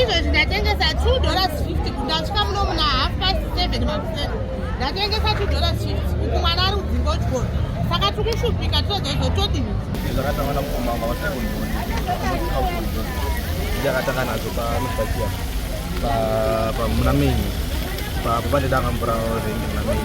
izvezvi ndatengesa 2 dollars 50 ndasvika muno muna half past 7 makuseni ndatengesa 2 dollars 50 uku mwana ari kudzinga uchikoro saka tikushupika tozozotodini zvakatangana mukomanga vatakundondiakatanga nadzo panofakia muna mei papo pandidanga mvura rendi muna mei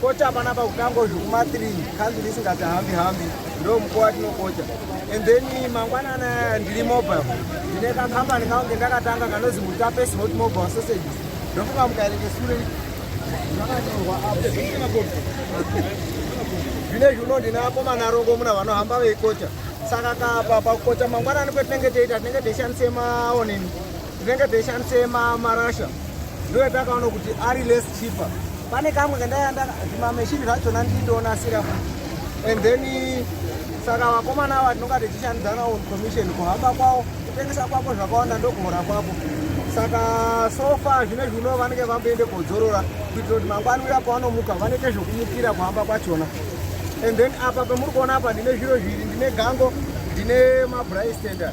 kocha panapa kutango zvekuma 3 kanzuru isingati hambi hambi ndo mukuwo watinokocha and then mangwanana ndiri mobile ndine kakambani kangu kendakatanga kanozi mutapes hot mobile sausage ndofunga mukaerenge sure zvakanyorwa apo zvine zviuno ndine akomana rongo muna vanohamba veikocha saka kapa pakukocha mangwanani kwetinenge teita tinenge teishandise maonini tinenge teishandisa marasha ndiwe takaona kuti ari less cheaper pane kamwe kandaenda zvimameshini zvachona ndindoonasira and then saka vakomana ava tinonga tichishandidzana on commission kuhamba kwavo kutengesa kwako zvakawanda ndokuhora kwako saka sofa zvine zvino vanenge vamboende kodzorora kuitira kuti mangwani uya pavanomuka vanoite zvokumukira kuhamba kwachona and then apa pemuri kuona apa ndine zviro zviri ndine gango ndine mabristender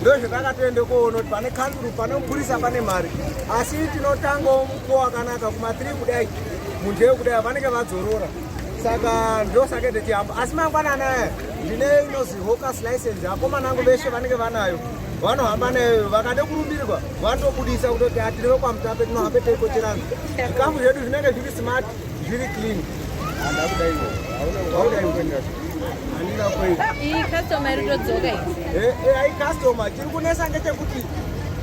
ndozvatakatoende koona kuti pane kanduru pane mupurisa pane mari asi tinotangawo mukuwo wakanaka kumatiri kudai munhu eyo kudai vanenge vadzorora saka ndosake tichihamba asi mangwanana aya ndine inozi hocus license akomana angu veshe vanenge vanayo vanohamba nayo vakade kurumbirwa vanotobudisa kutoti atiri vekwamutape tinohambe teikocheranzi zvikamu zvedu zvinenge zviri smart Zviri clean. Handa kudai wo. Haudai kuenda. Handina kuenda. Iyi customer iri kudzoka iyi. Eh, eh, ayi customer tiri kunesa ngechekuti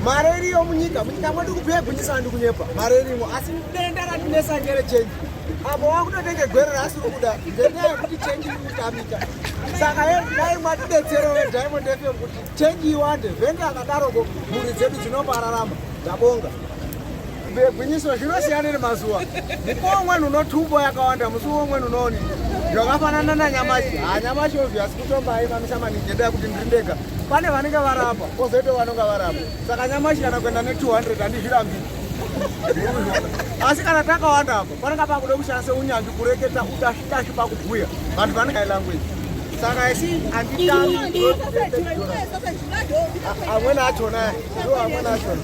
mari iriyo munyika munyika mwedu kubveya gwinyisa ndi kunyepa mari irimo asi denda ratinesa ngere chenji apo wakutotenge gwere raasiri kuda ngenyaya yekuti chenji iri kutamika saka ye dai mwatidetsero vediamond fm kuti chenji iwande vhenge akadaroko mhuri dzedu dzinopararama ndabonga Gwinyiso zvinosiyana nemazuva. Mukuwo umweni unotumbo yakawanda, musi umweni unooni zvakafanana nanyamashi. Ha nyamashi obvious kutomba haimamisa maningi ngendaa yekuti ndiri ndega. Pane vanenge varapa, kozoita vanonga varapa. Saka nyamashi kana kuenda ne 200 handizvirambiri. Asi kana takawanda apa, panenge pakuda kushandisa unyanzvi kureketa utashi tashi pakubhuya. Vanhu vanenge language. Saka asi anditambi. Amweni achona, ndo amweni achona.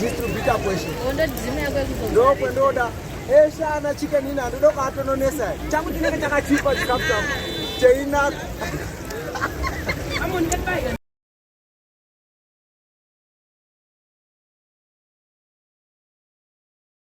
distributor kweshe ndokwendooda eshe ana chicken ina ndoda kuatononesa changu chinenge chakachipa chikafu changu cheinaka